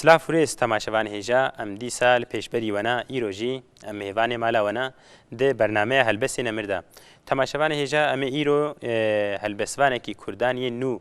Silav û rêz temaşevanê hêja em dîsa li pêşberî we ne îro jî em mêvanê mala we ne di bernameya Helbestên Emir de. Temaşevanê hêja em ê îro helbestvanekî kurdan yên nû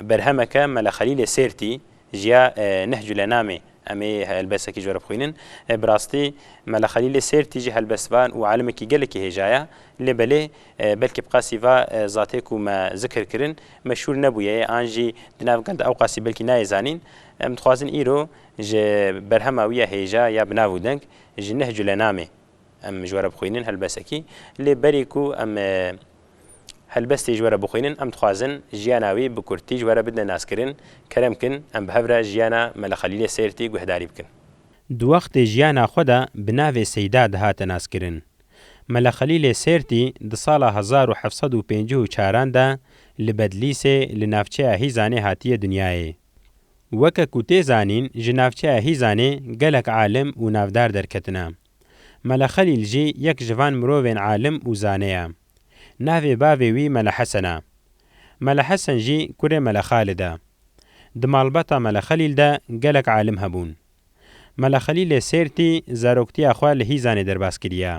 Berhemeke Mele Xelîlê Sêrtî ji ya Nehcule namê em ê helbesekî ji we re bixwînin. Bi rastî Mele Xelîlê Sêrtî jî helbestvan û alimekî gelekî hêja ye. Lê belê belkî bi qasî va zatê ku me zikir kirin meşhûr nebûye yê an jî di nav gel de ew qasî belkî nayê zanîn. Em dixwazin îro ji berhema wî ya hêja ya bi nav û deng Ji Nehcule namê em ji we re bixwînin helbesekî. Lê berî ku em Helbestê ji we re bixwînin, em dixwazin jiyana wî bi kurtî ji we re bidine naskirin, kerem bkin em bi hev re jiyana Mele Xelîlê Sêrtî guhdarî bikin. Di wextê jiyana xwe de bi navê Seyda dihate naskirin. Mele Xelîlê Sêrtî di sala hezar û heft sed û pêncî û çar an de li Bedlîsê li navçeya Hîzanê hatiye dinyayê. Weke ku tê zanîn ji navçeya Hîzanê gelek alim û navdar derketine. Mele Xelîl jî yek ji van mirovên alim û zane ye. Navê bavê wî Mele Hesen e. Mele Hesen jî kurê Mele Xalid e. Di malbata Mele Xelîl de gelek alim hebûn. Mele Xelîlê Sêrtî zaroktiya xwe li Hîzanê derbas kiriye.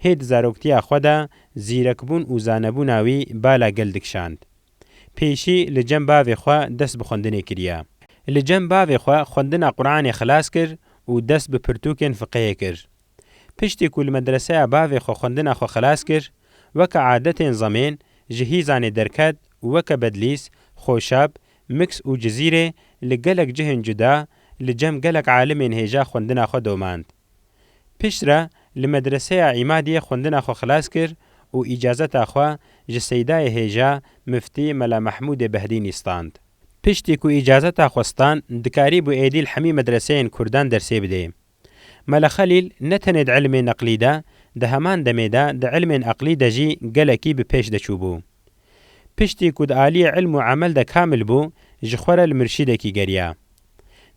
Hê di zaroktiya xwe de zîrekbûn û zanebûna wî bala gel dikişand. Pêşî li cem bavê xwe dest bi xwendinê kiriye. Li cem bavê xwe xwendina Quranê xilas kir û dest bi pirtûkên fiqihê kir. Piştî ku li medreseya bavê xwe xwendina xwe xilas kir, weke adetên zemên ji hîzanê derket û weke Bedlîs, Xoşab, Miks û Cizîrê li gelek cihên cuda li cem gelek alimên hêja xwendina xwe domand. Pişt re li Medreseya Îmadiyê xwendina xwe xilas kir û îcazeta xwe ji Seydayê Hêja Miftî Mela Mehmûdê Behdînî stand. Piştî ku îcazeta xwe stand dikarîbû êdî li hemî medreseyên kurdan dersê bidê. Mela Xelîl ne tenê di îlmê neqlî de, di heman demê de di îlmên eqlî de jî gelekî bi pêş de çûbû. Piştî ku di aliyê îlm û emel de kamil bû, ji xwe re li murşîdekî geriya.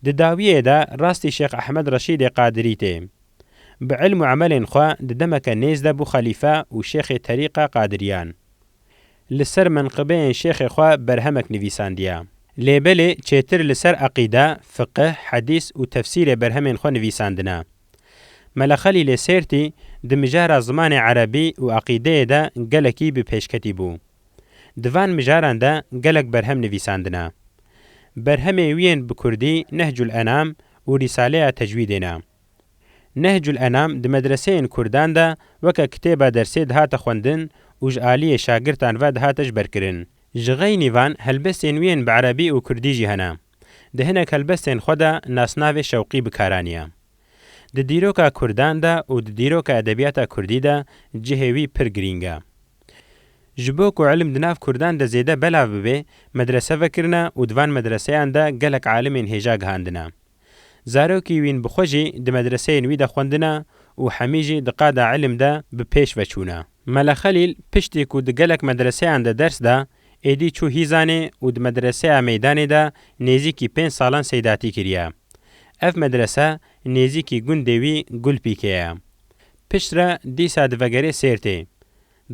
Di dawiyê de rastî Şêx Ehmed Reşîdê Qadirî tê. Bi îlm û emelên xwe di demeke nêz de bû xelîfe û şêxê terîqa Qadiriyan. Li ser menqibeyên şêxê xwe berhemek nivîsandiye. Lê belê çêtir li ser eqîde, fiqih, hedîs û tefsîrê berhemên xwe nivîsandine. Mela Xelîl ê Sêrtî di mijara zimanê erebî û eqîdeyê de gelekî bi pêşketî bû. Di van mijaran de gelek berhem nivîsandine. Berhemê wî yên bi kurdî Nehcul Enam û Rîsaleya Tecwîdê ne. Nehcul Enam di medreseyên kurdan de weke kitêba dersê dihate xwendin û ji aliyê şagirtan ve dihate jberkirin. Ji xeynî van helbestên wî yên bi erebî û kurdî jî hene. Di hinek helbestên xwe de nasnavê Şewqî bikaraniya. Di dîroka Kurdan de û di dîroka edebiyata Kurdî de cihê wî pir girîng e. Ji bo ku ilim di nav Kurdan de zêde belav bibê, medrese vekirine û di van medreseyan de gelek alimên hêja gihandine. Zarokî wîn bi xwe jî di medreseyên wî de xwendine û hemî jî di qada ilim de bi pêş veçûne. Mele Xelîl piştî ku di gelek medreseyan de ders da, Êdî çû Hîzanê û di Medreseya Meydanê de nêzîkî pênc salan seydatî kiriye. Ev medrese nêzîkî gundê wî Gulpîkê ye. Pişt re dîsa divegerê Sêrtê.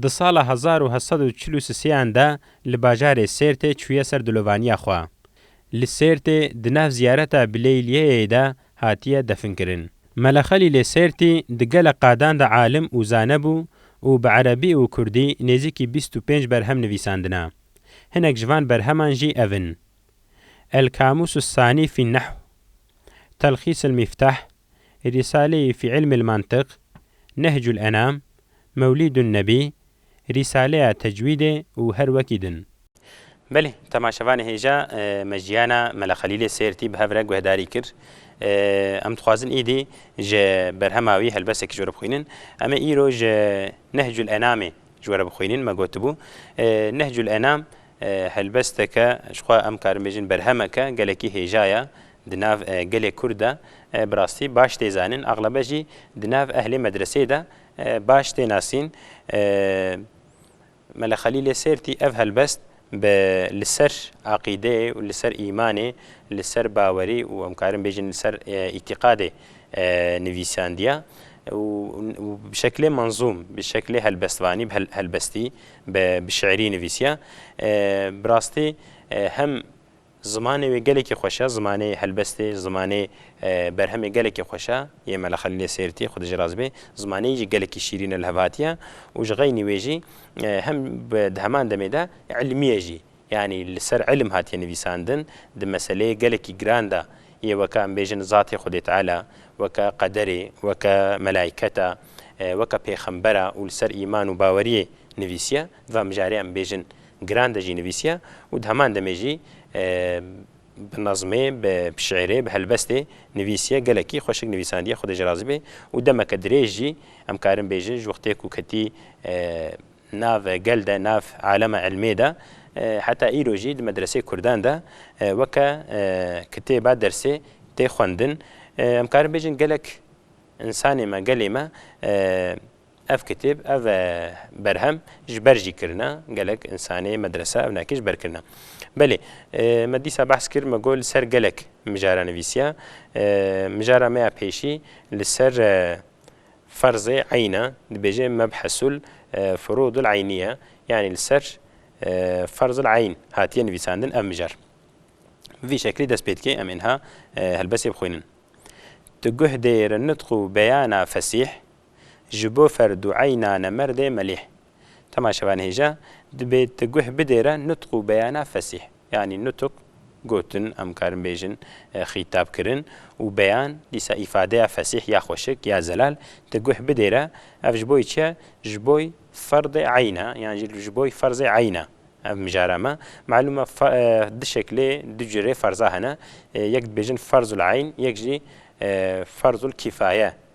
Di sala hezar û heft sed û çil û sisêyan de li bajarê Sêrtê çûye ser dilovaniya xwe. Li Sêrtê di nav ziyareta Bilêyliyeyê de hatiye definkirin. Mele Xelîlê Sêrtî di gelek qadan de alim û zane bû û bi erebî û kurdî nêzîkî bîst û pênc berhem nivîsandina. Hinek ji van berheman jî ev in, El-Kamûs Es-Sanî fî Nehw, Telxîs El-Mîftah, Rîsaleyî fî Îlmil Mantiq, Nehcul Enam, Mewlîdun Nebî, Rîsaleya Tecwîdê û her wekî din. Belê, temaşevanê hêja me jiyana Mela Xelîlê Sêrtî bi hev re guhdarî kir. Em dixwazin îdî ji berhema wî helbestekî ji we re bixwînin. Em ê îro ji Nehcul Enamê ji we re bixwînin, me gotibû, Nehcul Enam helbesteke ji xwe em karin bêjin berhemeke gelekî hêja ye di nav gelê Kurd de. Bi rastî baş tê zanin, exlebe jî di nav ehlê medreseyê de Baş tê nasîn. Mele Xelîlê Sêrtî ev helbest bi li ser aqîdeyê û li ser îmanê, li ser bawerî û em karin bêjin li ser îtîqadê nivîsandiya û bi şeklê menzûm, bi şeklê helbestvanî, bi helbestî, bi şîirî nivîsiya. Bi rastî hem Zimanê wê gelekî xweş e, zimanê helbestê, zimanê berhemê gelekî xweş e, yê Mela Xelîlê Sêrtî, xwedî jê rast bê, zimanê yê jî gelekî şîrîn e li hev hatiye û ji xeynî wê jî hem di heman demê de îlmî ye jî, yanî li ser îlim hatiye nivîsandin, di meseleyê gelekî giran de yê weke em bêjin zatê Xwedê Teala, weke qederê, weke melayketa, weke pêxembera û li ser îman û baweriyê nivîsiye, di va mijarê em bêjin, Giran de jî nivîsiya û di heman demê jî bi nazmê, bi şîirê, bi helbestê nivîsiye. Gelekî xweşik nivîsandiye, Xwedê ji razî bê û demeke dirêj jî em karin bêjin ji wextê ku ketî nav gel de, nav alema ilmê de heta îro jî di medreseyê kurdan de weke kitêba dersê tê xwendin. Em karin bêjin gelek însanê me, gelê me. Ev kitêb, ev berhem ji ber jî kirine, gelek însanê medresa ev nakê ji ber kirine. Belê, me dîsa behs kir, me got li ser gelek mijara nivîsiya. Mijara me ya pêşî li ser ferzê eyn e, dibêje mebhesul furûdul eynîye, yanî li ser ferzul eyn hatiye nivîsandin ev mijar. Bi vî şeklî dest pê dike, em ê niha helbestê bixwînin. Tu guh dê ri nitq û beyana fesîh, Ji bo ferdueyna nemerdê melîh. Tema şevan hêja, dibê ti guh bidê re nutq û beyana fesîh. Yanî nutq, gotin, em karin bêjin xîtab kirin û beyan, dîsa îfadeya fesîh ya xweşik, ya zelal ti guh bidê re, ev ji boy çiye? Ji boy ferdê eyn e, yan jî ji boy ferzê eyn e. Ev mijara me. Malûm e du şeklê, du curê ferza hene. Yek dibêjin ferzul eyn, yek jî ferzul kîfaye.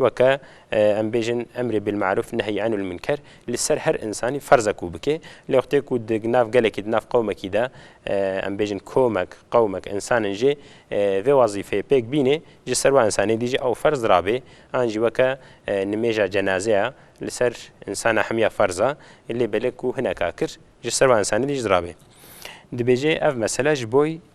Weke em bêjin emrê bilmaruf nehyî enil munker li ser her însanî ferz e ku bike. Lê wextê ku di nav gelekî di nav qewmekî de em bêjin komek, qewmek, însan in jê vê wezîfeyê pêk bînê ji ser we însanê dî jî ew ferz rabê. An jî weke nimêja cenazeya li ser însana hemiya ferz a lê belê ku hineka kir ji ser we însanê dî jî rabê. Dibêje ev mesele ji boy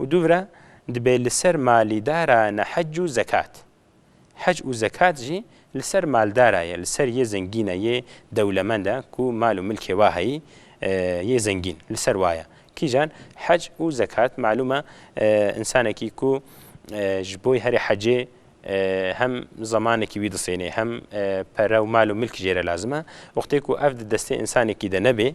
û dûvira dibê li ser malîdara ne hec û zekat. Hec û zekat jî li ser maldara ye, li ser yê zengîn e, yê dewlemend e ku mal û milkê wa heyî, yê zengîn li ser wa ye. Kîjan? Hec û zekat malûm e însanekî ku ji bo herî hecê hem zemanekî wî disênê, hem pere û mal û milk jê re lazim e. Wextê ku ev di destê însanekî de nebe,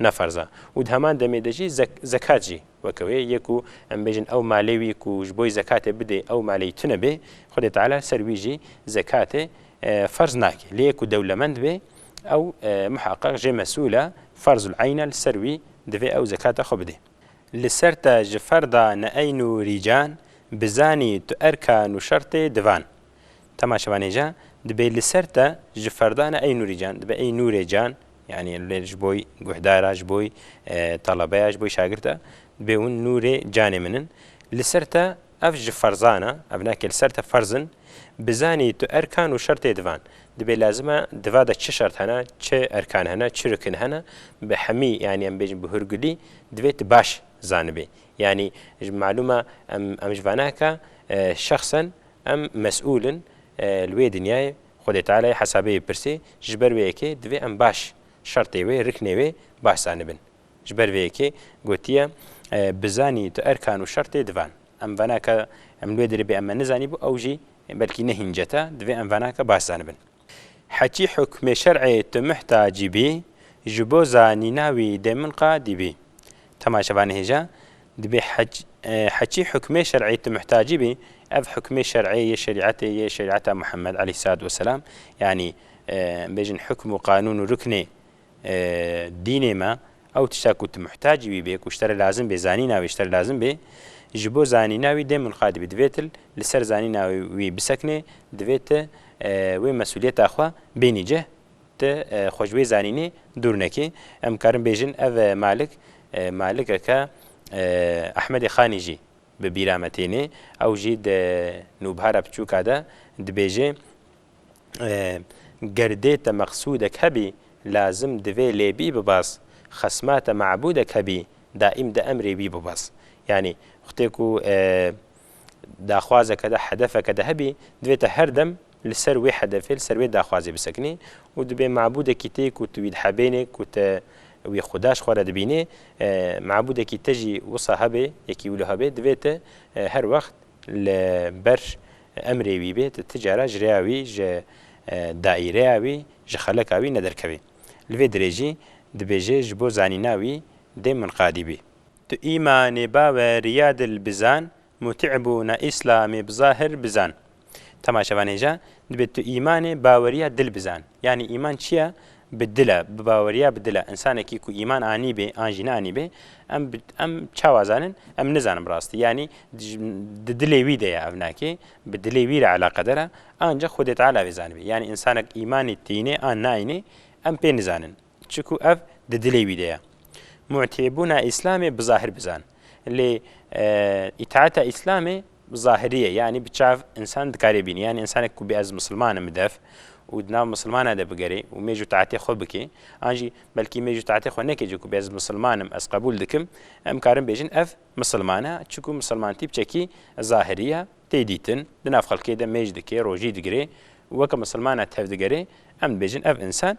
ne ferz e û di heman demê de jî zekat jî weke wê yê ku em bêjin ew malê wî ku ji bo zekatê bidê ew maleyî tune bê Xwedê Teala li ser wî jî zekatê ferz nake. Lê yê ku dewlemend bê ew muheqeq jê mesûl e ferzul eyn e li ser wî divê ew zekata xwe bidê. Li ser te ji ferda ne eyn û rîcan bizanî tu erkan û şertê divan. Tema şevanêja dibê li ser te ji ferdana ey Nûrî can dibe ey Nûrê can yanî lê ji bo guhdara ji bo telebeya ji bo şagirda dibê hûn Nûrê canê min in li ser te ev ji ferzana ev nake li ser te ferz in bizanî tu erkan û şertê divan dibê lazim e diva de çi şert hene çi erkan hene çi rikin hene bi hemî yanî em bêjin bi hûrgulî divê tu baş zanibî yanî malûm e em em ji vanaka şexsen Em mesûl in li wê dinyayê, Xwedê Teala'yê hesabeyê pirsê, ji ber vê yekê divê em baş şertê wê, riknê wê baş zanibin. Ji ber vê yekê gotiye, Bizanî tu erkan û şertê divan. Em venaka em li wê derê bê em me nizanîbû ew jî belkî ne hîn cete, divê em venaka baş zanibin. Hetî hukmê şer'ê tu muhtacî bî, ji bo zanîna wî dê min qadî bî. Tema şeva nihêja, dibê hetî hukmê şer'ê tu muhtacî bî, ev hukmê şer'ê yê şerî'etê yê şerî'eta Muhemmed aleyhîssalatu weselam, yanî bêjin hukm û qanûn û ruknê, Dînê me ew tişta ku tu muhtacî wî bê, ku ji te re lazim bê, zanîna wî ji te re lazim bê, ji bo zanîna wî dê munqad bî. Divê tu li ser zanîna wî bisekinê, divê tu wê mesûliyeta xwe bênî cih, tu xwe ji wê zanînê dûr nekî. Em karin bêjin ev malik malikeke Ehmedê Xanî jî bi bîra me têne. Ew jî di nûbhara piçûka de dibêje, gerdê te meqsûdek hebî, lazim divê lê bî bibas, xesma te mebûdek hebî, daîm di emrê wî bibas. Yanî xutê ku daxwazeke de, hedefeke de hebî, divê te her dem li ser wê hedefê, li ser wê daxwazê bisekinî û dibê mebûdekî tê ku tu wî dihebênê, ku te wî xuda ji xwe re dibînê, mebûdekî te jî wisa hebê, yekî wilo hebê, divê te her wext Li ber emrê wî bê tu ti cara ji rêya wî, ji daîreya wî, ji xeleka wî nederkevî. Li vê dirê jî dibêje ji bo zanîna wî dê munqadî bî. Tu îmanê bawe rîya dil bizan, mutî bûna îslamê bizahir bizan. Temaşevanê ja dibê tu îmanê bawerîya dil bizan. Yanî îman çi ye? Bi dil e, bi baweriya bi dil e. Însanekî ku îman anîbê an jî neanîbê, em em çawa zanin? Em nizanin bi rastî. Yanî di dilê wî de ye ev nakê, bi dilê wî re eleqedar e. Anca Xwedê Teala vê zanibê. Yanî însanek îmanî tînê an naînê em pê nizanin. çiku ev di dilê wî de ye. Mu'tîbûna Îslamê bi zahir bizan. Lê îtaata Îslamê zahirî ye, yanî bi çav însan dikarê bînî. Yanî însanek ku bê ez misilman im bi dev û di nav misilmanan de bigerê û mêj û taetê xwe bikê, an jî belkî mêj û taetê xwe nekê cî ku bê ez misilman im, ez qebûl dikim, em karin bêjin ev misilman e çiku misilmantî bi çekî zahirî ye, tê dîtin, di nav xelkê de mêj dikê, rojî digirê û weke misilmanan tevdigere, em dibêjin ev însan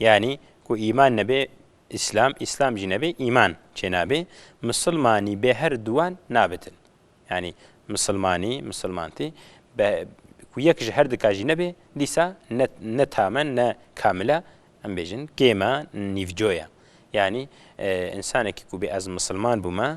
Yanî ku îman nebe îslam, îslam jî nebe îman çênabe, misilmanî bê her duwan nabitin. Yanî misilmanî, misilmantî be ku yek ji her dika jî nebe dîsa ne ne tam e ne kamil e, em bêjin kêma nîvco ye. Yanî însanekî ku bê ez misilman bûme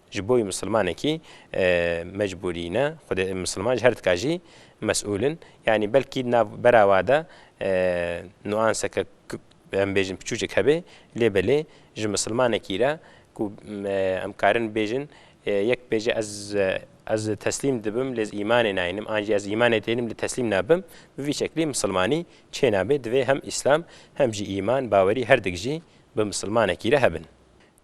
Ji bo wî misilmanekî mecbûrî ne, xwedê misilman ji her tika jî mesûl in. Yanî belkî di nav bera we de nuanseke em bêjin piçûcek hebe lê belê ji misilmanekî re ku em karin bêjin yek bêje ez ez teslîm dibim lê ez îmanê nayînim an jî ez îmanê tênim lê teslîm nabim bi vî şeklî misilmanî çênabe. Divê hem îslam hem jî îman bawerî herdik jî bi misilmanekî re hebin.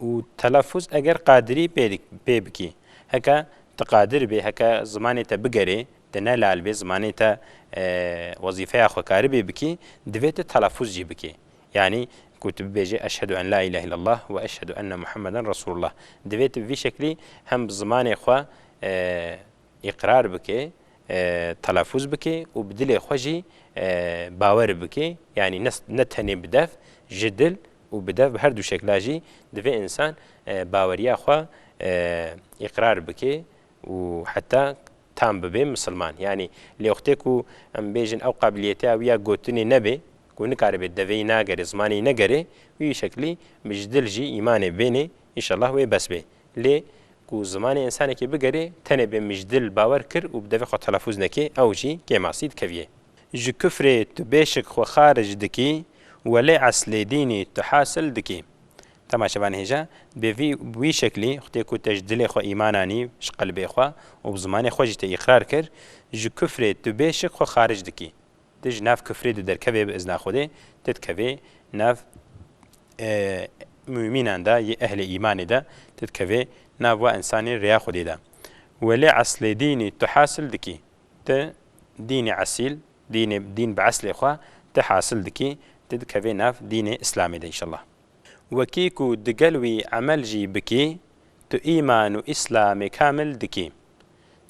û telafûz eger qadirî pê bikî. Heke tu qadir bî, heke zimanê te bigerê, tu ne lal bî, zimanê te wezîfeya xwe karibî bikî, divê tu telafûz jî bikî. Yanî ku tu bibêjî eşhedû en la îlâhe îllellah we eşhedû enne Muhammeden Resûlullah. Divê tu bi vî şeklî hem bi zimanê xwe îqrar bikê, telafûz bikê û bi dilê xwe jî bawer bikê, yanî ne tenê bi dev, ji dil Û bi dev bi her du şekla jî divê însan baweriya xwe îqrar bike û heta tam bibe misilman. Yanî lê wextê ku em bêjin ew qabiliyetê ew ya gotinê nebe ku nikaribe deveyî nagere, zimanê yî negere, wî şeklî bi ji dil jî îmanê bêne, înşellah wê bes be. Lê ku zimanê însanekê bigerê, tenê bê mijdil bawer kir û bi devê xwe telafûz nekê, ew jî kêmasî dikeviyê. Ji kufrê tu bêşik xwe xarij dikî, welê eslê dînî tu hasil dikî. Dema şevan hêja, dibê vî bi wî şeklî, xwedê ku te ji dilê xwe îman anî, ji qelbê xwe û bi zimanê xwe jî te îqrar kir, ji kufrê tu bêşik xwe xarij dikî. Ti ji nav kufrê de derkevê bi izna Xwedê, ti dikevê nav mûmînan de yê ehlê îmanê de, ti dikevê nav we însanê rêya Xwedê de. Welê eslê dînî tu hasil dikî. Ti dînê esîl, dînê dîn bi eslê xwe ti hasil dikî, ti dikevê nav dînê îslamê de înşellah. Wekî ku digel wî emel jî bikî, tu îman û îslamê kamil dikî.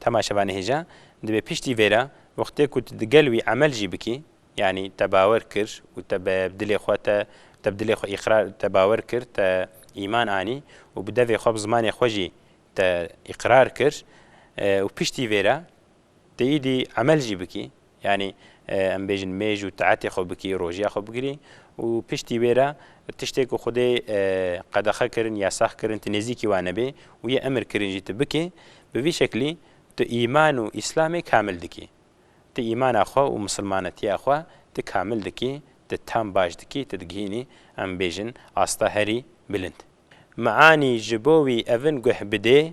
Tema şevanê hêja dibe piştî vê re wextê ku tu digel wî emel jî bikî, yanî te bawer kir û te bi dilê xwe te te bi dilê xwe îqrar te bawer kir, te îman anî û bi devê xwe bi zimanê xwe jî te îqrar kir û piştî vê re tu îdî emel jî bikî. Yanî em bêjin mêj û taetê xwe bikî, rojiya xwe bigirî û piştî wê re tiştê ku Xwedê qedexe kirin, yasax kirin tu nêzîkî wan nebê û yê emir kirin jî tu bikê, bi vî şeklî tu îman û îslamê kamil dikî. Tu îmana xwe û misilmanetiya xwe tu kamil dikî, tu tam baş dikî, tu digihînî em bêjin asta herî bilind. Meanî ji bo wî evin guh bidê,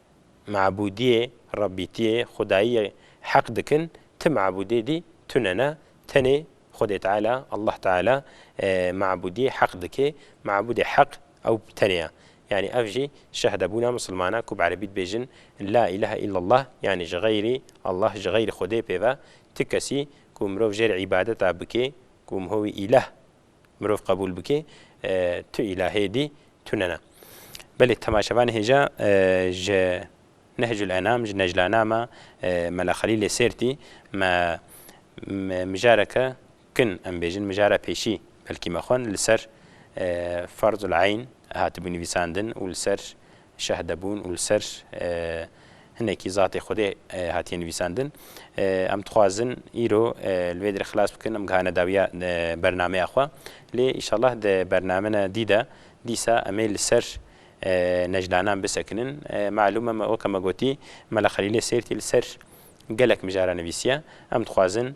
mabûdiyê, Rabbîtiyê, xwedayiyê heq dikin, ti mabûdê dî tune ne, tenê Xwedê Teala, Allah Teala, mabûdiyê heq dikê, mabûdê heq ew tenê ya. Yanî ev jî şehdebûna misilman e ku bi erebî dibêjin La îlehe îllallah yanî ji xeyrî Allah, ji xeyrî Xwedê pêve ti kesî ku mirov jêr îbadeta bikê ku miho wî îleh, Mirov qebûl bike tu îlahê dî tu nena. Belê temaşevan hêja ji Nehcul Enam, ji Neclanama Mela Xelîlê Sêrtî me mijareke kin em bêjin mijara pêşî belkî me xwend li ser Farzul Eyn hatibû nivîsandin û li ser şehde bûn û li ser hinekî zatê Xwedê hatiye nivîsandin. Em dixwazin îro li vê derê xilas bikin, em gihane dawiya bernameya xwe. Lê îşallah di bernamena dî de dîsa em ê li ser necdanan bisekinin. Malûm e weke me gotî Mela Xelîlê Sêrtî li ser gelek mijara nivîsiye. Em dixwazin